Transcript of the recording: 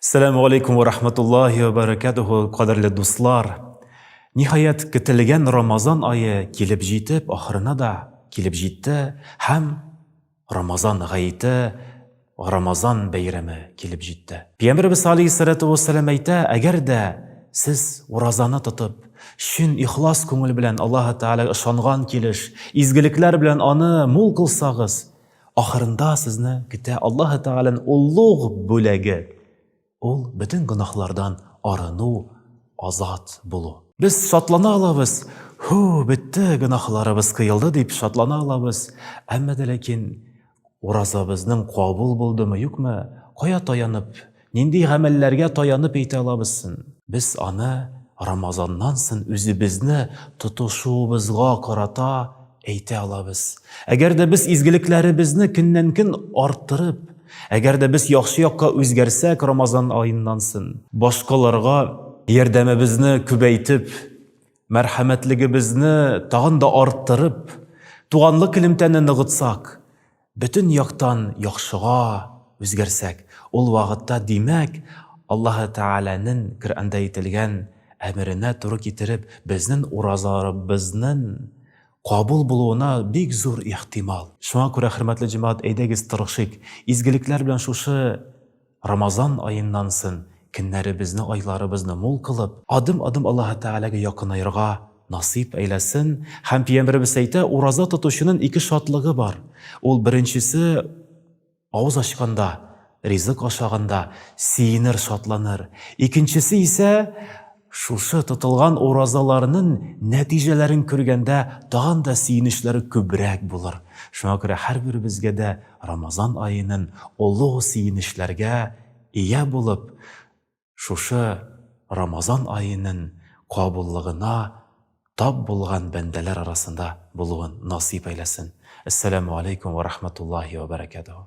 Сәләму алейкум ва рахматуллахи ва баракатуху, кадерле дуслар. Ниһаять, көтелгән Рамазан ае килеп җитеп, ахырына да килеп җитте һәм Рамазан гаете, Рамазан бәйрәме килеп җитте. Пәйгамбәрбез алейһиссалату вассалам әйтә, әгәр дә сез уразаны тотып, чын ихлас күңел белән Аллаһы Тәгаләгә ышанган килеш, изгелекләр белән аны мул кылсагыз, Ахырында сезне көтә Аллаһы Тәгалән олуг бүләге. Ул бөтен гөнаһлардан арыну, азат булу. Без шатлана алабыз, Һу, бетте, гөнаһларыбыз кыелды, дип шатлана алабыз. Әмма дә ләкин уразабызның кабул булдымы, юкмы, кая таянып Нинди гамәлләргә таянып әйтә алабыз сон? Без аны Рамазаннан сон үзебезне тотышуыбызга карата әйтә алабыз. Әгәр дә без изгелекләребезне көннән-көн арттырып, әгәр дә без яхшы якка үзгәрсәк Рамазан аеннан сон, башкаларга ярдәмебезне күбәйтеп, мәрхәмәтлегебезне тагын да арттырып, туганлык элемтәне ныгытсак, бөтен яктан яхшыга үзгәрсәк, ул вакытта, димәк, Аллаһы Тәгаләнең Коръәндә әйтелгән әмеренә туры китереп, безнең уразаларыбызның кабул булуына бик зур ихтимал. Шуңа күрә, хөрмәтле җәмәгать, әйдәгез тырышыйк, изгелекләр белән шушы Рамазан аеннан сон көннәребезне, айларыбызны мул кылып, адым-адым Аллаһы Тәгаләгә якынаерга насыйп әйләсен, һәм Пиямбәребез әйтә, ураза тотучынын ике шатлыгы бар, ул беренчесе, авыз ачканда, ризык ашаганда, сөенер, шатланыр, икенчесе исә, Шушы тотылган уразаларнын нәтиҗәләрен күргәндә тагын да сөенечләр күбрәк булыр. Шуңа күрә һәрберебезгә дә Рамазан аенын олуг сөенечләргә ия булып, шушы Рамазан аенын кабуллыгына тап булган бәндәләр арасында булуын насыйп әйләсен. Әссәләмү алейкүм вә рахматуллаһи вә бәрәкәтүһү.